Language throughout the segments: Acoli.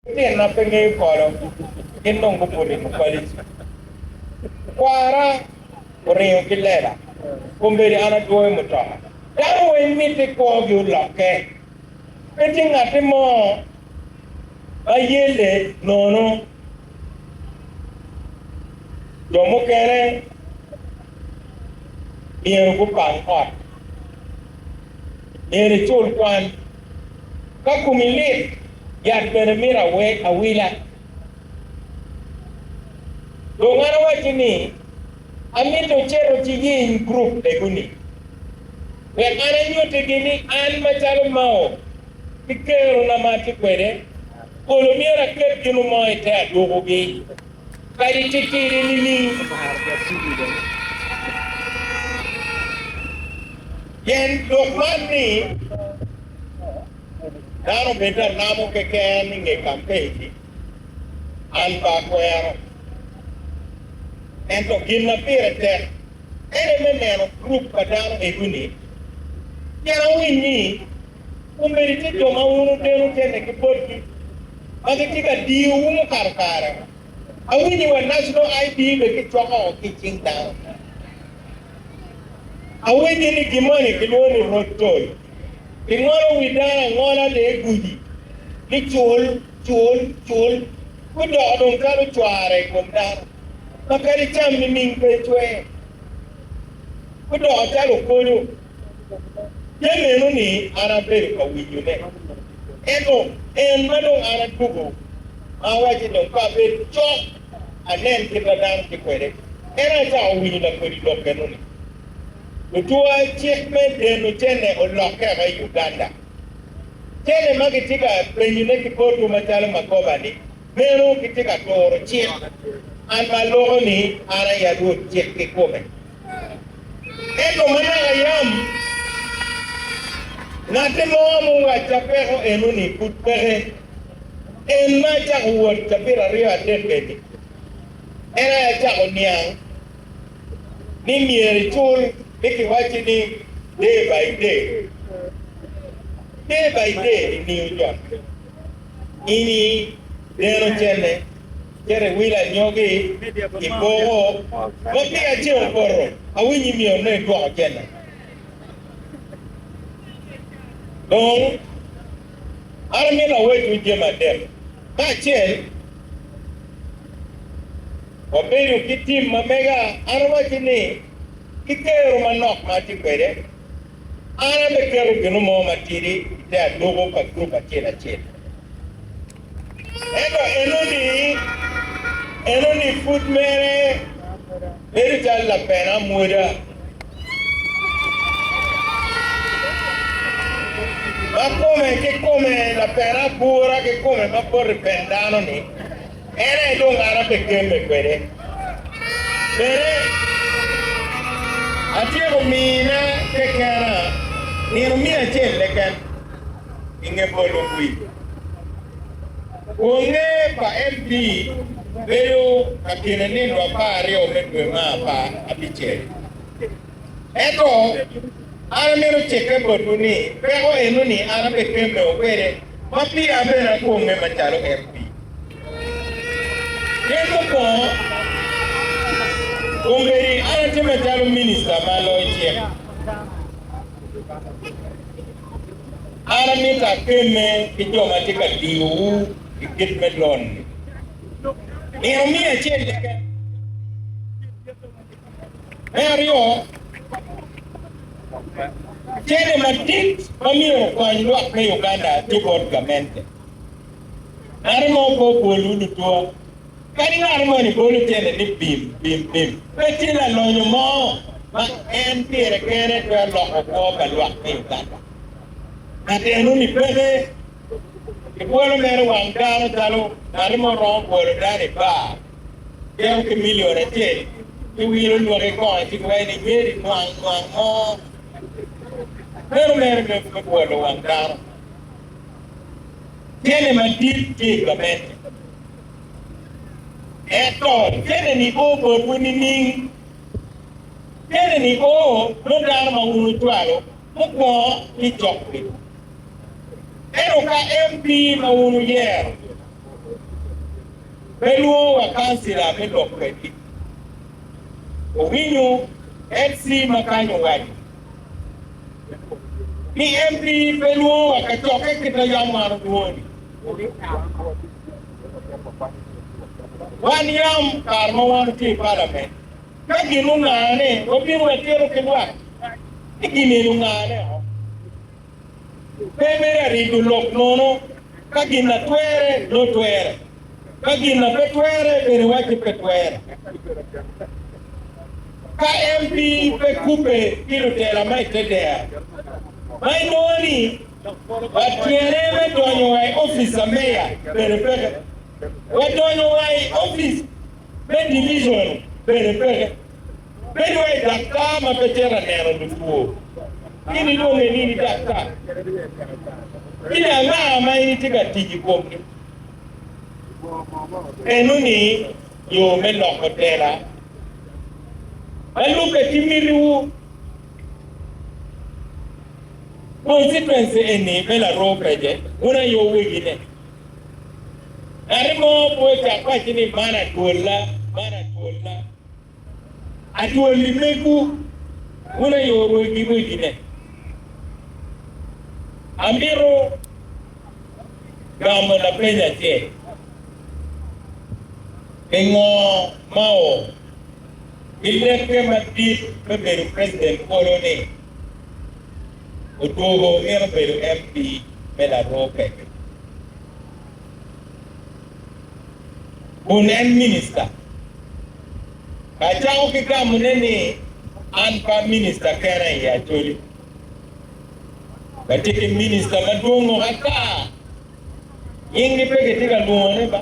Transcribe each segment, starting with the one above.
Litino ma pe ngeyo polo gin dong gubuto i mufalici. Kwara oringo ki lela, kombeddi an adwoyo mutoka. Dano weng mitte kwogi olokke. Pe tye ngatti mo ma yelle nono. Jo mukene myero gupang ot, myero icul kwan. Ka komi lit, yat bene mito awila. Dong an awacci ni, amito icito ci yiny gurup lego-ni, wek an anyuttigi ni an macalo Mao ki kerona ma atye kwede, kolo myero aket gin mo i te adwogogi. Kadi tye kene nining, amaro bot tugo i lobo pien lok man ni dano bed lalamo keken i nge kampec-ci. An pe akwero, ento gin ma pire tek en aye me neno gurup pa dano ego-ni pien awiny ni Omenti ci jo ma wun wuteno teni ki botgi ma gitye ka diyowu mukato kare. Awinyo wa National ID bene kicwako ki i cing dano. Awinyo ni gin moni kilwongo ni Road Toll. Kingolo wi dano angola de i gudi ni cul, cul, cul, gudoko dong calo cwara i kom dano ma kadi cam nining pe ecwe. Gudoko calo okonyo. Te meno ni an abedo ka winyone. Ento en ma dong an adwogo ma awace dong pe abed cok anen kit ma dano tye kwede, en aye acako winyo lakodi lok enoni. Lutwa cik me deno cene olokke woko i Uganda. Cene ma gitye ka penyone ki botwu macalo magoba ni, meno gitye ka turo cik, an ma aloko ni an aye alwod cik kikome. Ento manaka yam ngatte mo muwacca peko eno-ni, pud peke. En ma acako wot cabit aryo adek eni, en aye acako niang ni myero icul ni kiwacci ni day by day, day by day, imiyo jot ini deno cene. Cere wil anyogi i koko ma piya ce opoto awiny i miyo ne idwoko cene dong an amito awecwu jami adek ka acel wabedo ki tim ma mega an awaci ni ki kero manok ma atye kwede an abe keto ginu mo matidi ite aduku pa group acel acel. Ento enoni, enoni pud mere bedo calo lapen amwoda ma kome ki kome, lapen abura ki kome ma boti pen dano-ni, en aye dong an abegemme kwede. Bene, atyeko mina kekena nino miya acel keken. i nge bolo kwir. Kwonge pa MP bedo ka kine nino apar aryo me dwe ma apar abicel. Ento, an amito cikke botwu ni peko enoni an abekemmeo kwede ma pira bene akwomme macalo MP. Pien mukwongo, kombeddi an atye macalo minicita ma loyo cik. An amito akemme ki jo ma tye ka diyowu i kit me lon-ni. Myero omiya acel keken. Me aryo, cente madit ma myero okony lwak me Uganda tye bot gamente. Meno ma ope obol-wu lutwa. Kadi ngat moni bolo tyene ni bim, bim, bim, pe tye lalonyo mo ma en pire kene twero loko kwo pa lwak me Uganda. Ngat eno ni peke. Ki bwolo mere wang dano calo ngati mo romo bwolo dano i bar, cito ki milion acel ci wilo lwaki kong ci giwaci ni nyeri nwang nwang mo. Meno mere me me bwolo wang dano. Tyene madit tye i gamente. Ento kene-ni o botwu nining? Kene-ni o bot dano ma wun wucwalo mukwongo ki cokwi. Ento ka MP ma wun wuyero pe lwongo wa kancila me lok kwedgi, wuwinyo MC ma kanyo waco ni MP pe lwongo wa kacokke kit ma yam wan olwongo-ni. Wan yam kare ma wan watye i palament, ka gin ongane wabino watito ki lwak, ci gin eni ongane o. Pe mere arigo lok nono, ka gin na twere dong twere, ka gin na pe twere bene wacce pe twere. Ka MP pe kubbe ki lutela ma i te dero, ma inongo ni, Watwere me donyo wa i opic a meya bedo peke. Wadonyo wa i opic me division bedo peke. Bedo wa i daktar ma pe cito a neno lutwo. Gin ilwonge ni ni daktar. Gin anga ma in itye ka tic i komgi? Nenu ni yo me loko tela ma lubbe ki miti wu. Consequence eni me laroo pece wun ayo wegi ne. Ngati mo pe ocak waci ni man adwolla, man adwolla. Adwoli megu wun ayo wegi wegi ne. Amito gamo lapeny acel, pingo mao? Pi lekke madit me bedo president polo ni, odwogo mito bedo MP me Laroo Peke. Kun en minista, acako ki gamone ni an pa minista kena i Acholi. Watye ki minista madwongo ata, nyingi pe kitye ka lwongone ba.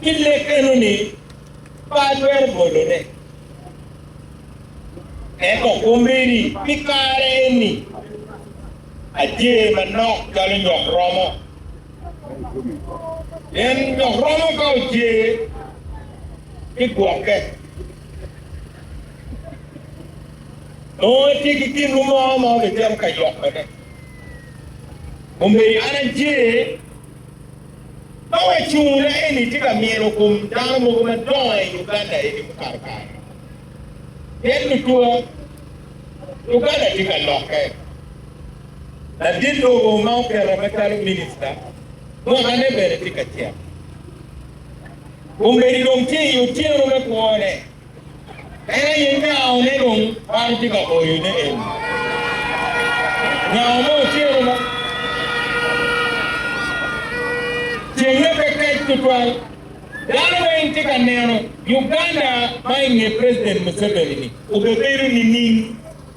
Pi lek enoni, pe atwero bolone. Ento akombere ni pi kare eni, ajer manok calo nyok romo. Pien nyok romo ka ojer ki gwokke, nongo etye ki gin-nu mo ma obicito ka yokone. Kombeddi an ajer. Ma wacungne eni tye ka mino kom dano mogo madongo i Uganda eni mukato kare. Pien lutwa Uganda tye ka lokke. Ladit lobo ma oketa macalo minista mwakane bene tye ka cek. Kombeddi dong tye i otyeno me kwone. En aye nyao ne dong man tye ka boyo ne eni. Nyao mo ociro ma ceng ne pe kec tutwal. Dano ma in tye ka neno, Uganda ma inge president Museveni ni obebedo nining?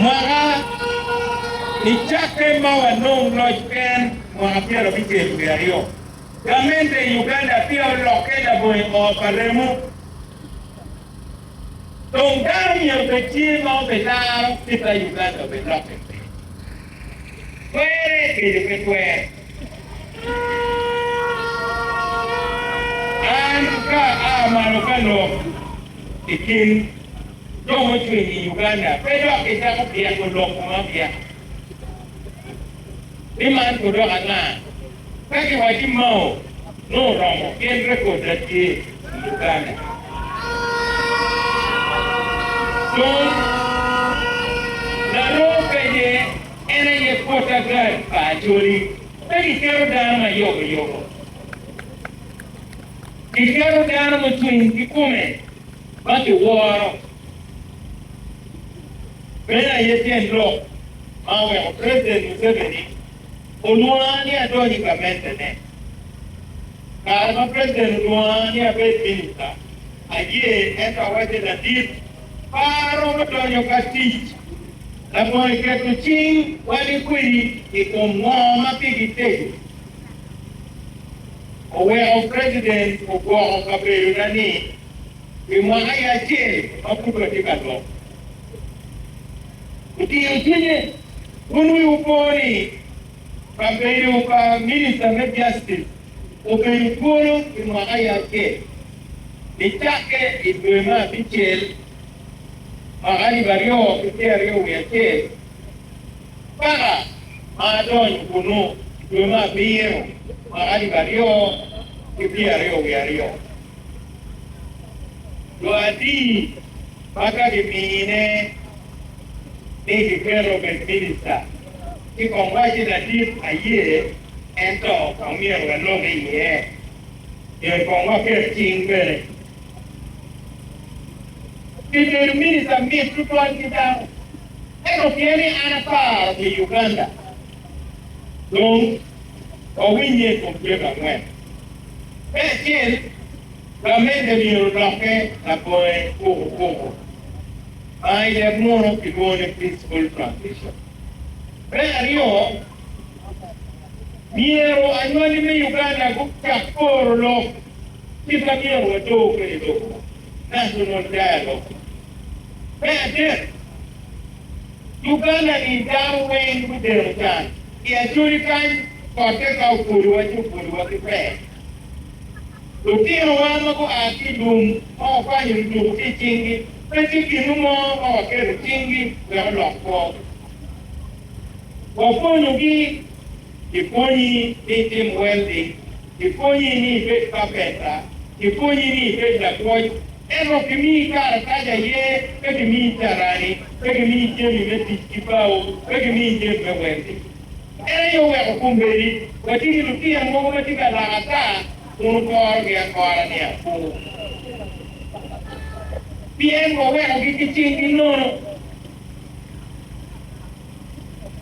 Mwaka I cakke ma wanong loc ken mwaka pyera abicel wiye aryo, gamente I Uganda peya olokke labongi oo pa remo. Dong dano myero bed tye ma obe laro kita Uganda obe lokke pe twere gedo pe twere. An ka aa malo ka lok. I kin jo mucwiny i Uganda pe dok gicako pyeko lok ma pyek ni man gudoko anga. Ka giwaci Mao nongo oromo pien rekod da tye i Uganda. Dong laroo penye en aye kwot agad pa Acholi. Pe giketo dano ma yoboyobo. Kiketo dano mucung ki kome ma kiworo, meno aye tyen lok ma oweko President Museveni olwonga ni adony i gamentene. Kare ma President olwonga ni abed Minister aye ento awacce ladit pa aromo donyo ka tic. Labongo iketo cing wagi kwedi i kom ngo ma pigi tego. Oweko president ogwoko kabedo na ni pi mwaka ya acel ma pud wa tye ka lwok. Otiyo cwinye wun wi wu po ni kabedo pa minister me justice obedo twolo pi mwaka ya acel ni cakke i dwe me abicel mwaka alip aryo ki pyeraryo wi acel. Paka ma adonyo kunnu i dwe me abiro ma alip aryo ki pyeraryo wiye aryo, jo adi ma ka gimine ni giketo obed minista, ci kong wacci ladit aye ento kong myero walokke iye, myero kong waket cing bene. Pi bedo minista mit tutwal ki dano. Ento pien ni an aparo pi Uganda, dong wawinnye i kom jami angwen. Me acel, gamente myero olokke labonge kuku kuku, ma i leb munu kilwongo ni peaceful transition. Me aryo, myero anywali me Uganda gucak poro lok kit ma myero waco kwede lobo, national dialogue. Me adek, Uganda-ni dano weng gudeno can i Acholi kany kotte ka obulowa ci obulowa ki pee. Lutinowa ma gua ki i lum ma wakwanyo lutuku ki i cinggi pe tye ginu mo ma waketo cinggi wek olok kwo. Wapwonyogi. Kipwonyi ni itim weldi. Kipwonyi ni ibed kapeta. Kipwonyi ni ibed lapwony. Ento kimiyi karatac aye, pe kimiyi carani, pe kimiyi jami me tic ki bao, pe kimiyi jami me weldi. En aye oweko kombeddi watye ki lutino mogo ma tye ka lak ata kun wukorogi akora ni apur. Pien wawekogi ki cinggi nono.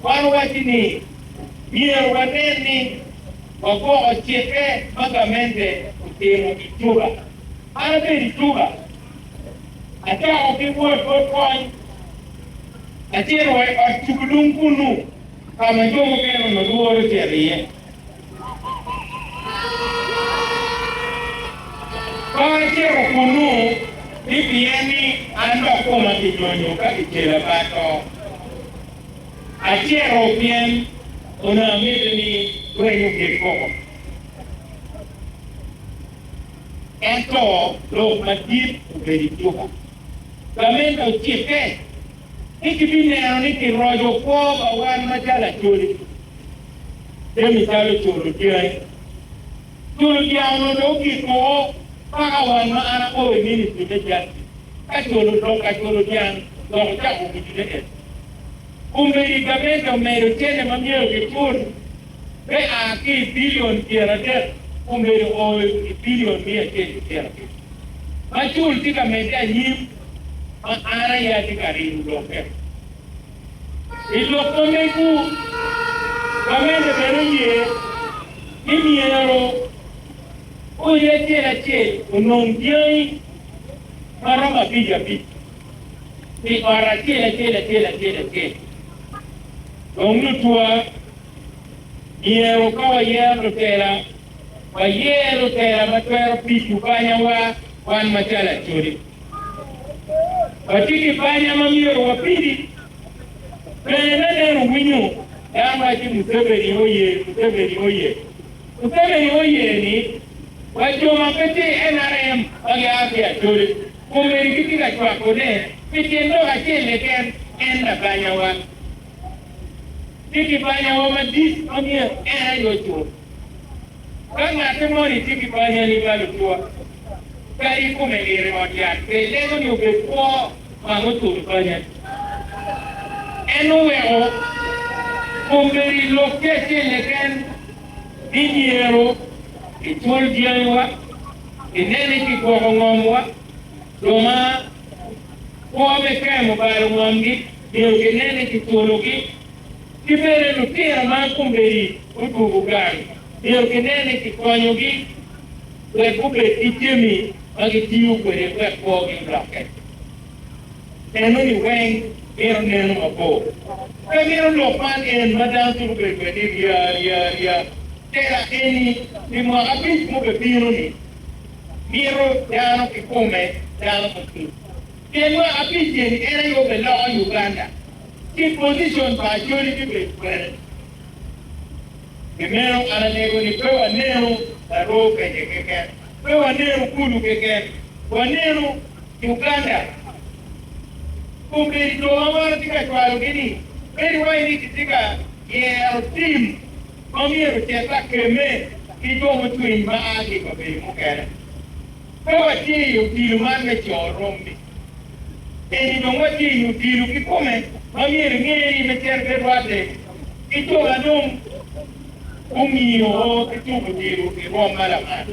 Wan owaco ni myero wanen ni wagwoko cikke ma gamente otimo i Juba. An abedo i Juba, acako ki wot bot kony, acito wa i ot cugulung kunnu ka ma jo mukene onongo lworo cito iye. Ka acito kunnu, ni pien ni an dok koma kinyonyo ka kicela bad to, acito pien onongo amito ni rweny ogik koko. Ento lok madit obedo i cuka. Gamente ocikke ni gibineno ni kiroco kwo pa wan macalo acholi, jami calo culo dyangi, culo dyang onongo dong ogik woko paka wan ma an akobo i ministri me jatti ka culo lok ka culo dyang dok ocako gudi-ne en. Kombeddi gamente omedo cene ma myero gicul me a ki i bilion pyeradek omedo o i bilion miya acel ki pyerabiriyo, ma cul tye ka medde anyim ma an aye atye ka rino lokke. I lok ma mego, gamente bene oye ni myero odi acel acel onong dyangi ma romo abic abic pi ot acel acel acel acel acel, dong lutwa Myero ka wayero lutela, wayer lutela ma twero pico banyawa wan macalo Acholi. Watye ki banya ma myero wapidi. Bene me neno winyo dano waco Museveni oye, Museveni oye, Museveni oye ni wa jo ma pe tye i nrm ma gia ki Acholi komedi gitye ka cwakone pi tyen lok acel keken en labanyawa. ki Kibanyawa madit ma myero en aye ocul. Ka ngatte moni tye ki banya ni ma lutua, kadi ikome nire ot yat pe ilego ni obed kwo ma mucul banyani. En oweko kom bedo i lok tye acel keken ni myero kicul dyangiwa, kine ni kigwoko ngomwa jo ma kwo me kemo balo ngomgi nyo ginene ki twologi, ki bene lutira ma kombeddi gudwogo gang nyo ginene ki konyogi wek gubed ki jami ma gitiyo kwede wek kwogi olokke. Enoni weng mito neno mabor. Pe mito lok man en ma dano twero bedo kwede ni rya rya rya. Tela eni pi mwaka abic mubebino-ni mito dano kikome dano mucwiny. Kel lwaka pi tyeni en aye obeloko Uganda ki position pa Acholi me bedo kwene. Pi meno an alego ni pe wanenu laroo peke keken, pe wanenu kulu keken, wanenu Uganda. Kombeddi jo ma maro tye ka cwalo gi ni bedo iwaci ni kitye ka yero team ma myero ocet lakeme ki jo mucwiny ma aa ki i kabedo mukene. Pe watye i odilo man me co rommi. Eni dong watye i odilo kikome ma myero ingeye ni me terre rwadde ki jo ma dong gumiyo oo ki tuko odilo i rwom ma lamal.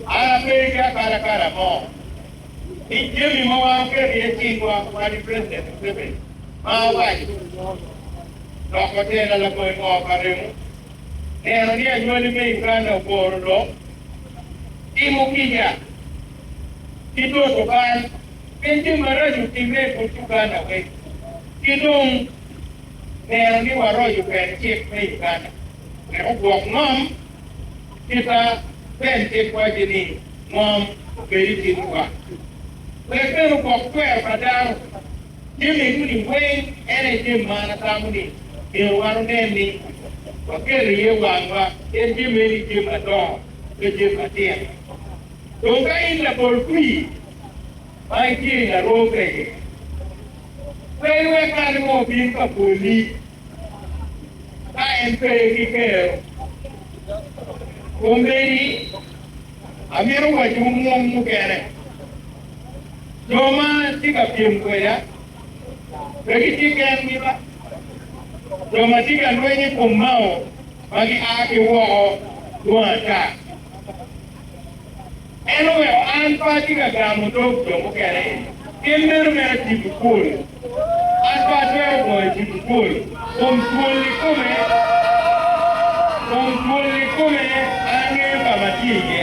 An ape ki akalakala mo ni jami ma wan oketo iye cingwa wadi President Museveni ma awaco dok watela labongo pa remo. neno ni anywali me Uganda ogoro lok, timo kica, ki toto bal pien gin maraco otimme i but Uganda weng, ki dong neno ni waroco kwede cik me Uganda wek ogwok ngom, kita Ben cik waco ni ngom obed i cingi wa, wek bene ogwok twero pa dano. Te medoni weng en aye gin ma an atamo ni myero wan onen ni waketo iye wangwa pien gin meno i gin madongo pe gin matino. Dong ka in labol kwir ma itye i laroo peke, pe iwek ngat mo obin ka boli ka en pe ki kero. Komedi amito wacowu mung mukene. Jo ma tye ka pyem kweda pe gitye kengi ba? Jo ma tye ka lweny i kom Mao ma gia ki woko dwong ata. En oweko an pe atye ka gamo dog jo mukene eni. Gin meno mere tipo pol. An pe atwero goyo tipo pol kom twol ikome. Kom twol ikome an angeyo ka ma atye iye.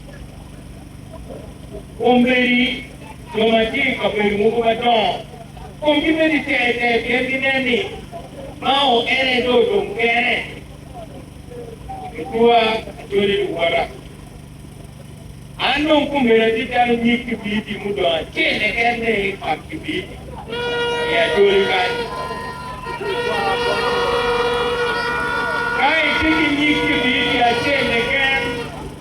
Omedi, jo ma tye i kabedo mogo madongo kong gibed i cer cer pien ginen ni Mao en aye dong odong kene i kor acwale luwota. An dong kombeddi atye calo nyig kibiriti mudong acel keken me pak kibiriti i acwali kany. Ka itye ki nyig kibiriti acel keken,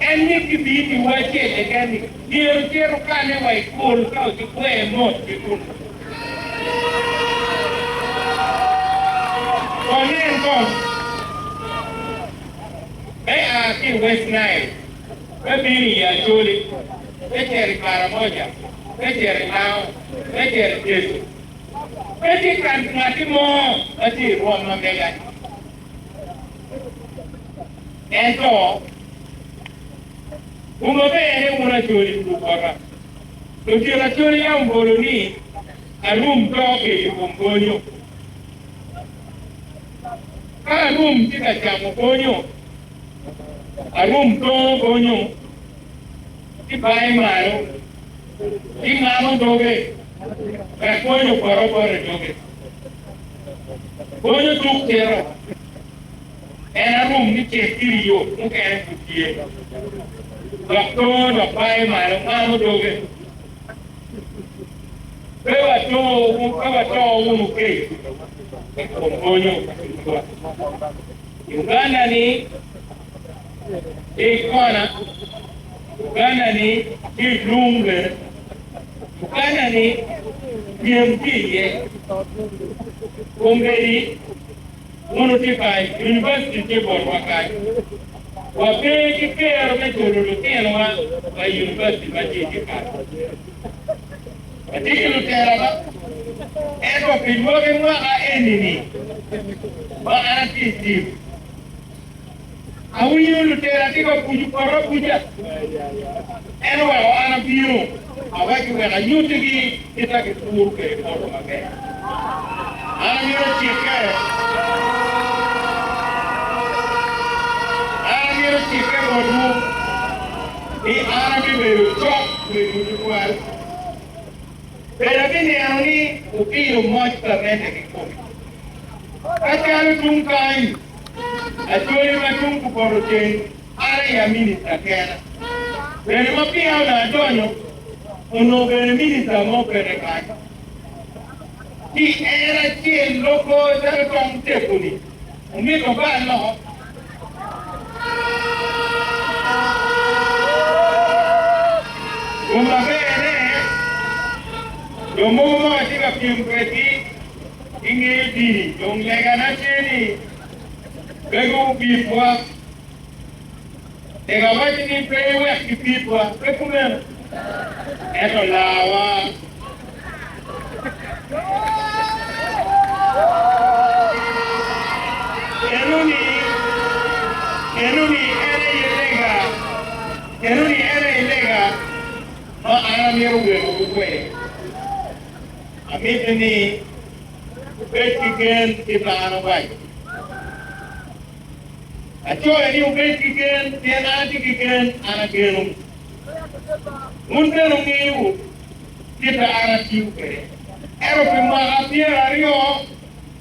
En ni kibiyi pi wa acel keken ni myero cit okane wa i pol ka ocukwee mot ki kunnu. Wanen kong. Me a ki i West Nile me bino i Acholi, me cito i Karamoja, me cito i Lao, me cito i Teso, pe tye ka ngatti mo ma tye i rwom ma mega-ni. Ento, wu maber ni wun acholi wu gugwota. Otyeno acholi yam bolo ni, Arum to kede i kom bonyo. Ka arum tye ka camo bonyo, arum tongo bonyo, ci baye malo, ci ngamo doge wek bonyo opoto bot i doge. Bonyo tuk cito. en arum ni cek iri yo mukene pud tye. Dok tongo dok baye malo ngamo doge. Pe wato wunu kec i kom bonyo adunga. Uganda ni tye i kona, Uganda ni tye i lung bene, Uganda ni pyem tye iye. Kombeddi. Mono tye kany? Univaciti tye botwa kany. Wape ki kero me culo lutinowa pa i univaciti ma tye ki kany. Watye ki lutela ma. Ento pi lwaki mwaka eni-ni ma an atye i tim. Awinyo lutera tye ka buco poto abuca, en oweko an abino awacci wek anyuttigi kit ma kipuro kwede poto maber. An amito cikke, an amito cikke botwu ni an abibedo cok kwedwu tutwal. Bed abineno ni wupiro moc gamente kikome. Ka calo tung kany, Lacwony ma cung kupoto ceng mare ya minista kena. Bene ma pia onongo adonyo, onongo bene minista mo pene kany. Pi en acel loko calo tong tepu-ni, omito oba loko. Kum maber-re, jo mogo ma watye ka pyem kwedgi, Ingeyo di dong legana tye ni mego wubitwa? Tek awaco ni pe iwek gibitwa, pe kumeno? Ento lawa. Geno ni, geno ni en aye lega, geno ni en aye lega ma an amito weko wukwer. Amito ni wubed ki gen i par awaco. Acoya ni wubed ki gen pien an atye ki gen, an ageno. Wun bene wungeyo kit ma an atiyo kwede. Ento pi mwaka pyer aryo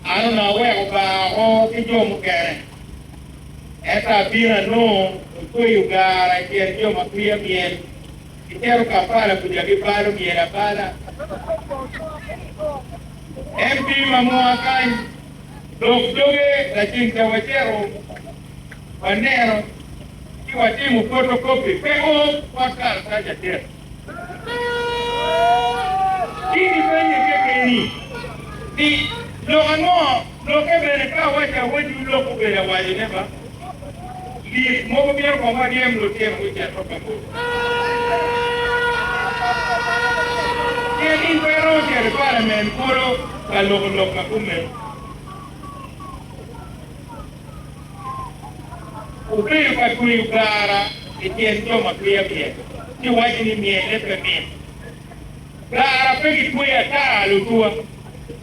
an onongo aweko bar oko ki jo mukene, ento abino anongo ocweyo gar acel jo ma kwia myel. Gitero Kampala kuca gibalo myel abala. MP ma mwaka kany lok doge lacen ca wacito waneno ci watimo photo copy pe o bot karatac adek. Ci gipenye kekeni ni lok ango? Lokke bene ka awaco awaci olok obedo awaco ne ba lik mogo myero kong waryem lutino gucit wa kabodo pien in pe iromo cito i palament kulu ka loko lok ma kumeno. Obedo ka tweyo gara i tyen jo ma twiya myel ci waco ni myelle pe mit. Gara pe gitweyo ata lutuwa.